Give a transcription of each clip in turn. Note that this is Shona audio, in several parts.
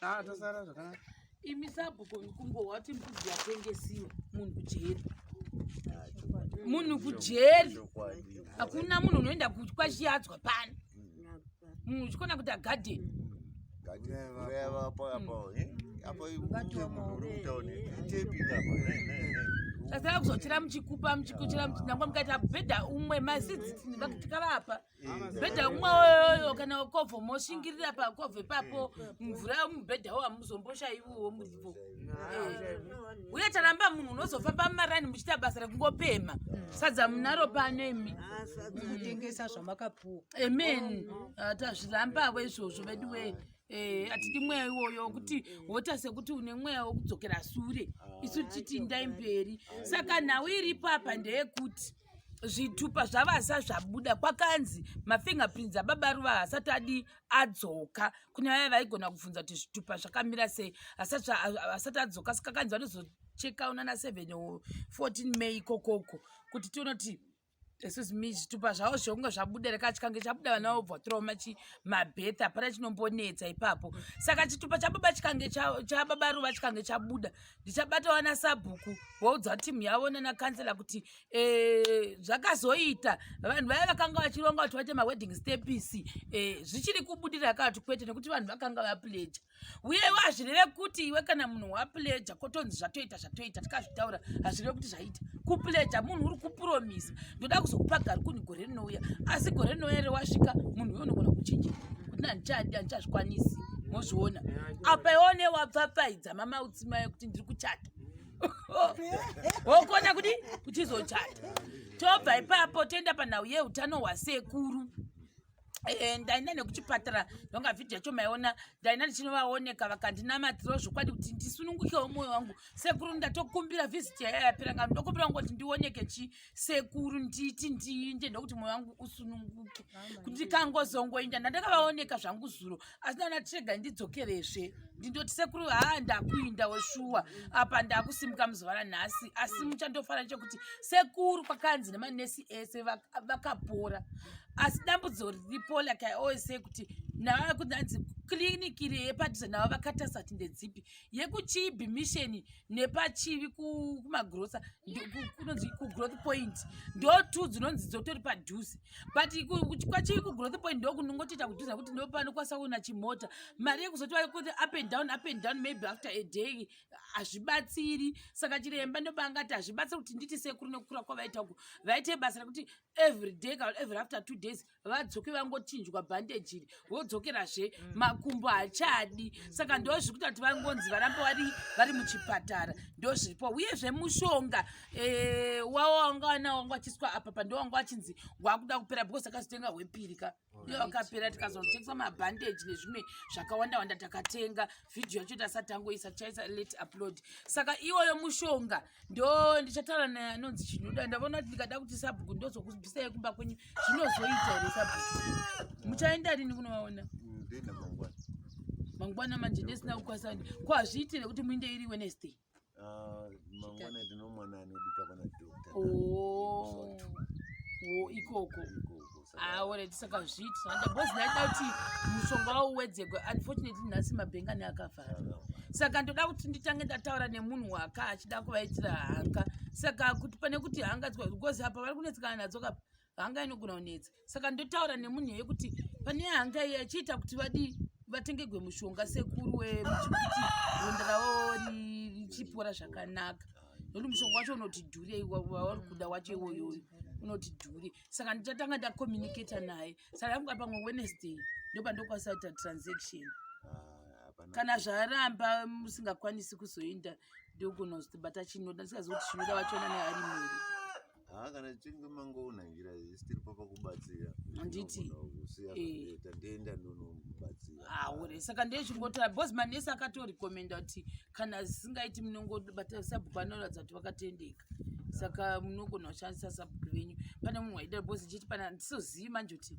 Ah, tosara zvakanaka. Imi sabhuku kungohwa kuti mbudzi yatengesiwa munhu kujeri. Munhu kujeri. Hakuna munhu unoenda kwashiyadzwa pano. Munhu uchikona kuita garden. Kureva apo apo. Apo ibude munhu uri kutauni. Itepi apo. Sasa kuzochira muchikupa muchikuchira muchinangwa mukaita bhedha umwe masidzi vakati kavapa. mubhedha umwe oyoyo kana kobvo moshingirira pakobvo ipapo mvura yomubhedhawo hamuzomboshaiwiwo muripo eh. uye taramba munhu unozofamba mumarani muchiita basa rekungopema sadza munaro pano imi kutengesa zvamakapuwa amen ah, tazvirambavo izvozvo vedu wee Eh, hatidi mweya iwoyo kuti wota sekuti une mweya wokudzokera sure isu titi ndai mberi saka nhau iripo apa ndeyekuti zvitupa zvavasa zvabuda kwakanzi mafingerprints ababa ruva hasati adi adzoka kune vaya vaigona kubvunza kuti zvitupa zvakamira sei hasati adzoka sikakanzi vanozocheka una na 7 o 14 may ikokoko kuti tionoti excuse me zvitupa zvavo zvekunge zvabuda rekachikange chabuda vana vobva trauma chi mabeth hapana chinombonetsa ipapo saka chitupa chababa chikange chababa ruva chikange chabuda ndichabata vana sabhuku voudza timu yavo nana kansela kuti eh, zvakazoita vanhu vaya vakanga vachironga kuti vaite mawedding stepisi eh, zvichiri kubudira akati kwete nekuti vanhu vakanga vapleja uyewo hazvireve kuti iwe kana munhu wapleja kotonzi zvatoita zvatoita tikazvitaura hazvireve kuti zvaita kupleja munhu uri kupromisa ndoda kuzokupa gari kuni gore rinouya asi gore rinouya rewasvika munhu uyo unogona kuchinja kuti nandichadi andichazvikwanisi mozviona apa iwo newabvapfaidza mamautsi maye kuti ndiri kuchata wokona kuti kuchizochata tobva ipapo toenda panhau yeutano hwasekuru eh, ndaina nekuchipatara ndonga vhidhi yacho maiona ndaina ndichinovaoneka vakandinamatirawo zvokwadi kuti ndisunungukewo mwoyo wangu sekuru ndatokumbira vhiziti yayayapiranga ndokumbira ngo kuti ndioneke chii sekuru nditi ndiinde ndokuti mwoyo wangu usununguke kuti ndikangozongoinda ndandakavaoneka zvangu zuro asi naona tirega ndidzokerezve ndindoti sekuru haa ndakuinda weshuwa apa ndakusimuka muzuva ranhasi asi muchandofara chekuti sekuru kwakanzi nemanesi ese vakapora asi dambudzo riripo like i always say kuti navaa kunanzi kliniki reyepadhuze navo vakatarisa kuti ndedzipi yekuchibi mission nepachivi kumagrosa kunonzi kugrowth point ndo two dzinonzi dzotori padhuze but kwachivi kugrowth point ndo kunongotoita kudhuze kuti ndo panokwanisa kuona chimota mari yekuzoti vakuti up and down up and down maybe after a day hazvibatsiri saka chiremba ndopaangati hazvibatsiri kuti nditi sekuru nekukura kwavaita uku vaite basa rekuti every day ka every after two days vadzoke vangochinjwa bhandeji iri vodzokerazve mm. makumbo hachadi mm. saka ndo zviri kuita kuti vangonzi varamba vari vari muchipatara ndo zviripo uyezve mushonga eh, wavo wanga wana wanga wachiswa apa pa ndo wanga wachinzi wakuda kupera because akazitenga hwepiri ka iyo akapera tikazotengesa mabhandeji nezvimwe zvakawanda wanda takatenga vhidhiyo yacho tasatangoisa chaisa late upload saka iwoyo mushonga ndo ndichataura naye anonzi chinoda ndavona kuti ndikada kuti sabhuku ndozokubvisai kumba kwenyu zvinozoita here sabhuku muchaenda rini kunovaona mangwana manje ndisina kukwanisa ndi ko hazviiti nekuti muinde iri wednesday ah, mangwana ndinomwana anodika pana doctor oh. ikoko aone tisakazviiti zvanda bhozi ndaida kuti mushonga wawo uwedzegwe unfortunately nhasi mabhengani akavhara saka ndoda kuti nditange ndataura nemunhu waka achida kuvaitira hanga saka kuti pane kuti hanga because apa vari kunetsekana nadzo kapa hanga inogona kunetsa saka ndotaura nemunhu yeye kuti pane hanga iye achiita kuti vadii vatengegwe mushonga sekuru wemuchikuti ronda ravo richipora zvakanaka nokuti mushonga wacho unoti dhurei wauri kuda wacho iwoyoyo unoti dhure saka ndichatanga ndacommunicata naye saka yangu apamwe wednesday ndopandokwanisa kuita transaction ah, kana zvaramba musingakwanisi kuzoenda ndokunozoti bata chinoda ndisikazivi kuti chinoda vachiona naye ari mhuri haa kana tichinge mangoona njira zisitiri papa kubatsira handiti eh. tandienda ndonobatsira haure ah, saka ndezvingotora bcause manesi akatorekomenda kuti kana zisingaiti munongobatasabhuku anoratidza kuti vakatendeka saka munogona kushandisa sabhuku venyu pane munhu waida because chiti pana ndisizozivi manje kuti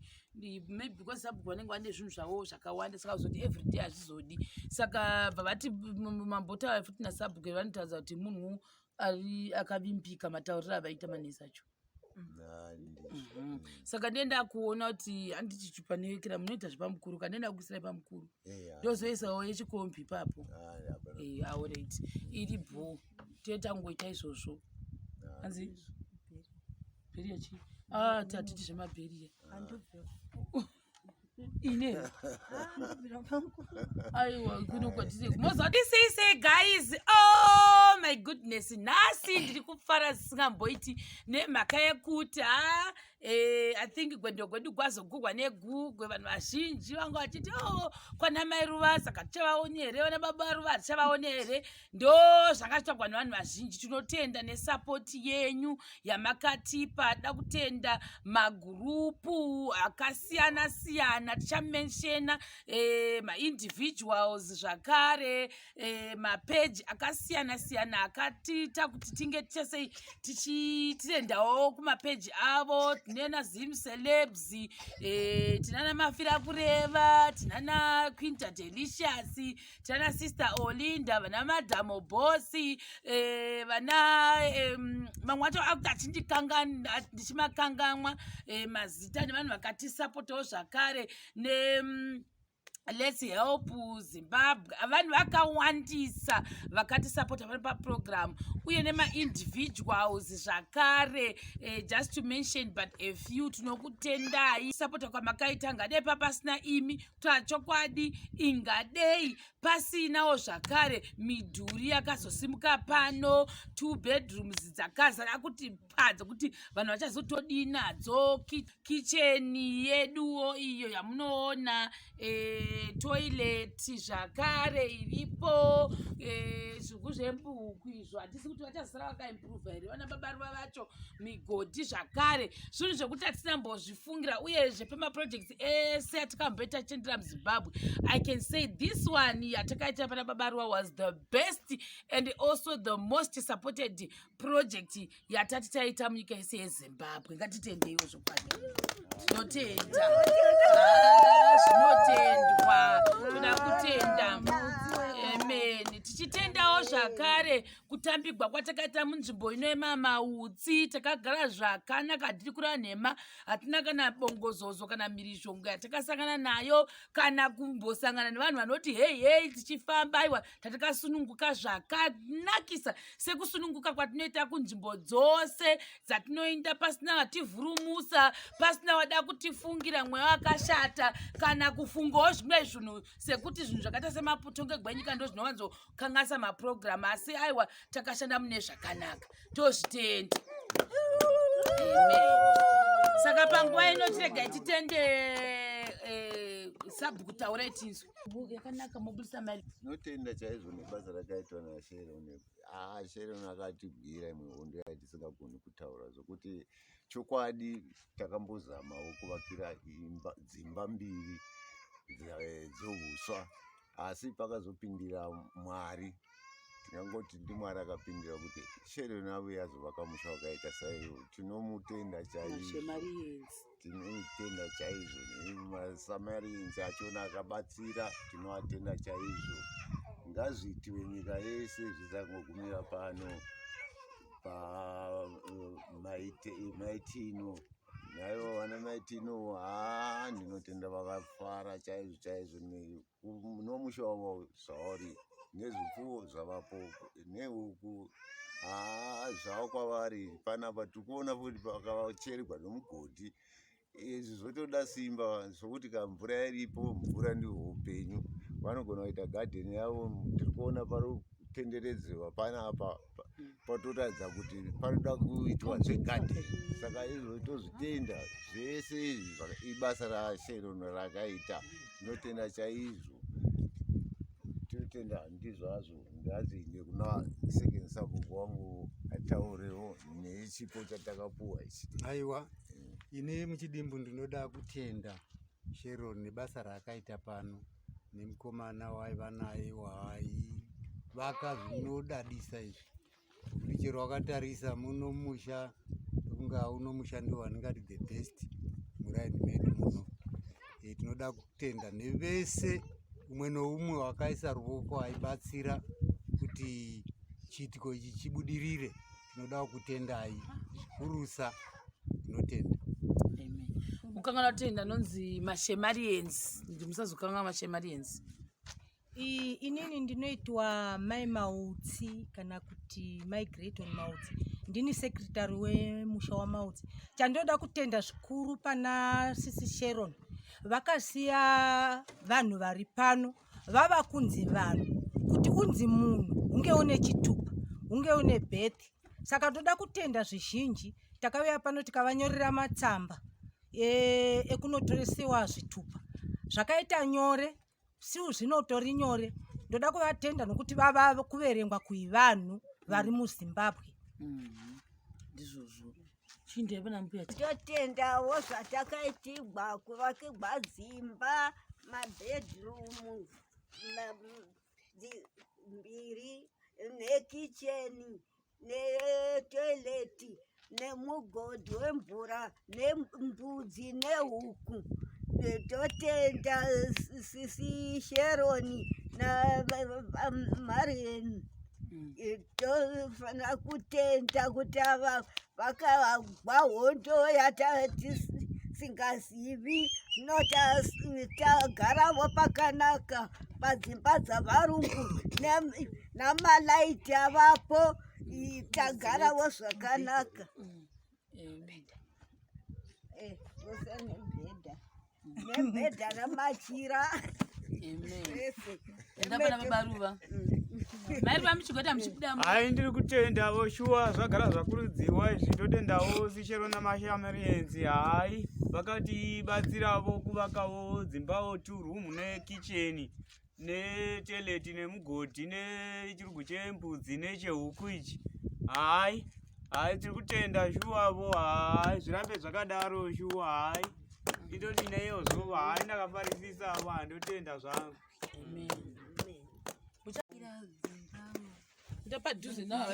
maybe because sabhuku vanenge vane zvinhu zvavo zvakawanda saka zoti everyday hazvizodi saka bva vati mambotaura futi nasabhuku vanotaridza kuti munhu ari akavimbika matauriro avaita manesi acho mhm. saka ndiye ndakuona kuti handiti chipanevekera munoita zvepamukuru ka ndiye ndakuisira pamukuru ndozoisawo yechikombi ipapo aorit iri bhoo tiye tangoita izvozvo hanzi bheriya chi ah, tatiti zvemabheriya ine aiwa kuno kwatise mozodisise guys oh my goodness nhasi ndiri kufara zisingamboiti nemhaka yekuti ha ah, eh, i think gwendo gwedu gwazogurwa negugwe vanhu vazhinji vanga vachiti o oh, kwana mai ruva saka tichavaone here vana baba ruva tichavaone here ndo zvakatagwa nevanhu vazhinji tinotenda nesapoti yenyu yamakatipa da kutenda magurupu akasiyana siyana tichamenshena e, eh, maindividuals zvakare e, eh, mapeji akasiyana siyana akatiita kuti tinge tichasei tichitendawo kumapeji avo tinena zim celebs e, eh, tinana mafira kureva tinana quinta delicious tana sister olinda vana madhamo bosi eh, vana mamwe wacho akuti achindikanganwa ndichimakanganwa eh, mazita nevanhu vakatisapotawo zvakare ne mm, let's help zimbabwe vanhu vakawandisa vakatisapota vari paprogramu uye nemaindividuals zvakare eh, just to mention but a few tinokutendai sapota kwamakaita ngadai papasina imi chokwadi ingadei pasinawo zvakare midhuri yakazosimuka pano two bedrooms dzakazara kuti padza kuti vanhu vachazotodii nadzo kicheni yeduwo iyo yamunoona e, eh, toileti zvakare iripo e, eh, zvigu zvembuku izvo hatisi kuti vachazosara vakaimprova here vana babaruva vacho migodhi zvakare zvinhu zvekuti hatisina mbozvifungira uyezve pemaprojects maproject ese eh, atikambe tachendera muzimbabwe i can say this one yatakaita pana babaruwa was the best and also the most supported project yatati taita munyika yese yezimbabwe ngatitendeiwo zvokwadi tinotenda ah, zvinotendwa toda kutenda tichitendawo zvakare kutambigwa kwatakaita munzvimbo ino yemamautsi takagara zvakanaka tiri kura nhema hatina kana bongozozo kana mhirizhongo yatakasangana nayo kana kumbosangana nevanhu vanoti hei hei tichifamba aiwa tatakasununguka zvakanakisa sekusununguka kwatinoita kunzvimbo dzose dzatinoinda pasina vativhurumusa pasina wada kutifungira mweya wakashata kana kufungawo zvimwe zvinhu sekuti zvinhu zvakaita semaputo ngegwenyika ndo zvinowanzo kukanganisa maprogramu asi aiwa takashanda mune zvakanaka tozvitenda saka panguva ino chirega ititende eh, sabhuku taura itinzwe yakanaka mobudisa mari tinotenda chaizvo nebasa rakaitwa nasheron ah, sheron akatibwira imwe hondo yaitisingagoni kutaura zvokuti chokwadi takambozamawo kuvakira dzimba mbiri eh, dzouswa asi pakazopindira mwari tingangoti ndimwari akapindira kuti shero navo yazovaka musha wakaita saiyo tinomutenda chaizvo tinomutenda chaizvo masamarians achona akabatsira tinoatenda chaizvo ngazviitiwe nyika yese zvisangogumira pano pamaitino naivo vana mai tino haa ndinotenda vakafara chaizvo chaizvo nomusha wavo zvauri nezvipfuwo zvavapo nehuku haa zvavo kwavari panapa tiri kuona futi pakavachererwa nomugodhi izvi zvotoda simba zvokuti ka mvura iripo mvura ndihwo upenyu vanogona kuita gadheni yavo tiri kuona pari kutenderedzewa panapa patoratidza kuti panoda kuitwa zvegadi saka izvo tozvitenda zvese izvi ibasa rasherono rakaita tinotenda chaizvo tinotenda handizvazvo ndazinde kuna second sabhuku wangu ataurewo nechipo chatakapuwa ichi aiwa eh. ini muchidimbu ndinoda kutenda Sharon nebasa raakaita pano nemukomana waiva naye waivaka zvinodadisa izvi kuti chero wakatarisa muno musha kunga uno musha ndiwo wandingati the best muraini medu muno e, tinoda kutenda nevese umwe noumwe wakaisa ruvoko aibatsira kuti chiitiko ichi chibudirire tinoda kukutendai zvikurusa tinotenda kukangana tenda anonzi mashemarians ndi musazokangana mashemarians inini ndinoitwa mai mautsi kana kuti mai greton mautsi ndini sekretary wemusha wamautsi chandinoda kutenda zvikuru pana sisi sharon vakasiya vanhu vari pano vava kunzi vanhu kuti unzi munhu unge une chitupa unge une birth saka toda kutenda zvizhinji takauya pano tikavanyorera matsamba e, ekunotoresewa zvitupa zvakaita nyore siu zvinotori nyore ndoda kuvatenda nokuti vava kuverengwa kuivanhu vari muzimbabwe mm-hmm. ndizvozvo mm -hmm. chindira pana mbuya totendawo zvatakaitigwa kuvakigwa dzimba mabedroom mbiri nekicheni netoileti nemugodhi wemvura nembudzi nehuku totenda sisi sheroni namarieni mm. tofanira kutenda kuti ava vakavagwa hondo yatatisingazivi zvinotagaravo pakanaka padzimba dzavarungu namalaiti avapo tagaravo zvakanaka nemubhedha eh, zvose nemubhedha nemubhedha namachira hai ndiri kutendavo shuwa zvagara zvakurudzirwa izvi ndotendavo sichero namashamarienzi hai vakatibatsiravo kuvakavo dzimbavo two room nekicheni neteleti nemugodhi nechirugu chembudzi nechehuku ichi hayi hayi tiri kutenda shuwavo hayi zvirambe zvakadaro shuwa hayi nditoti neiyo zuva hayi ndakafarisisa avo handotenda zvangu ndopadhuze navo